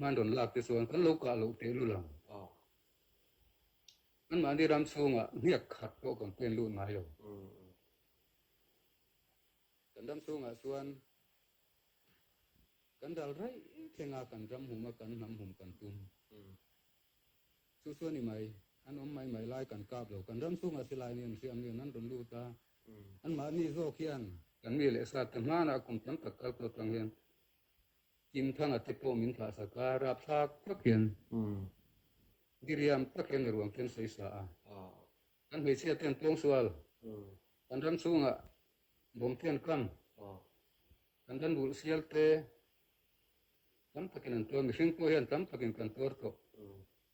Nan rawn lak ti cun kan lo kah lo te lulang awk. Anmah nih ram chungah hniak khat pawh kan pen lut ngai lo. Kan ram chungah cun kan dal rai thenga kan ram hum a kan hnam hum kan tum. Cu chuan i mai an om mai mai lai kan kap lo kan ram chungah si lai ni an siam ni nan run lut ta. Anmah nih zawk hian kan mi le sat hmana kum tam tak kal to tang hian Innthang a tippawm in thlah sak a rapthlak tak in diriam tak in a ruang khin sei sa a an hmeichia ten tuang sual an ram chungah bom ten kang an ran bul sial te tam takin an tuan mihring ko hian tam takin kan tuar ko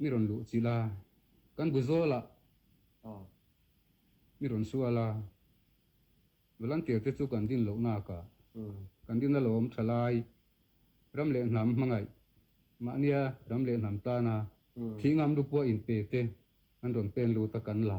mi run luh ci la, kan bu zawl ah mi run sua la, volunteer te cu kan din lonak ah kan din a lawm thalai ram le hnam hmangaih mahnia ram le hnam tana thi ngam lupua in pe te an run pen lu ta kan la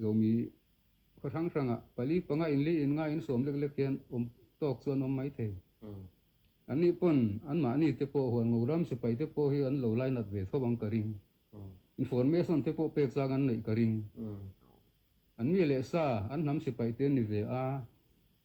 Zomi, khua hranghrang ah pali panga in li in nga in sawm leklek hian um tawk cu an um mai thei. An nih pun anmah ni te pawh huan ngo ram sipai te pawh hi an lo lainat ve thobang ka ring. Information te pawh pek chang an neih ka ring. An mi le sa an hnam sipai te ni ve a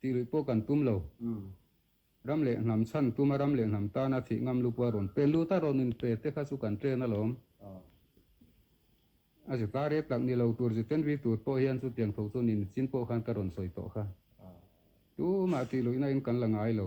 Tilui pawh kan pum lo. Ram le hnam chan puma ram le hnam tana thih ngam lupua ron pe lu ta ron in pe te kha chu kan train alawm. A si tar ek lak ni lo tur ziten vi tur pawh hian chu tiang tho chu nin chin pawh khan ka ron soi to kha. Tu ma ti lui na in kan la ngai lo.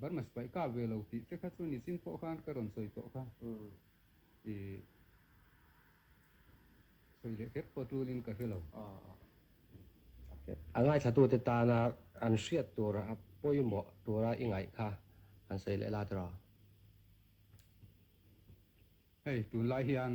Barmas pai ka ve lo ti te kha cu nicin pawh khan ka ron soi pawh kha i soi le kep ko tul in ka hre lo. A ngaithlatu te tana an hriat tur a poimawh tura i ngaih kha han soi le la tara. Hei, tun lai hian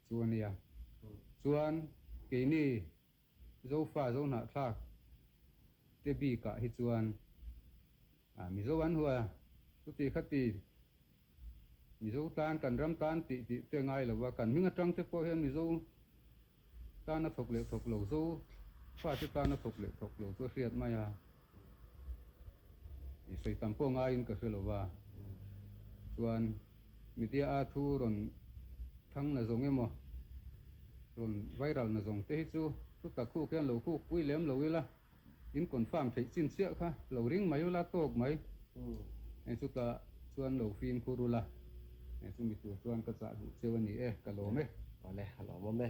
cu a nia. Cun kei nih Zofa Zohnahthlak te bik ah hi cun Mizo an hua. Cuti khati Mizo tan kan ram tan ti ti te ngai lo a kan hming atang te pawh hian Mizo tan a thawk leh thawk lo Zo fate tan a thawk leh thawk lo chu a hriat mai a Soi tam poh ngai in ka hria lo va. Tuan, mitia aa thu ron thang na zong emaw, ron viral na zong te hi cu, tuta khu kian lo khu kui lem lo ila, in confirm thei chin sia kha, lo ring mai ula, tok mai. E cuta, tuan lo fin kurula. E cu mitu tuan ka ca hu cheu ani e, ka lom e. Vale, ha lom e.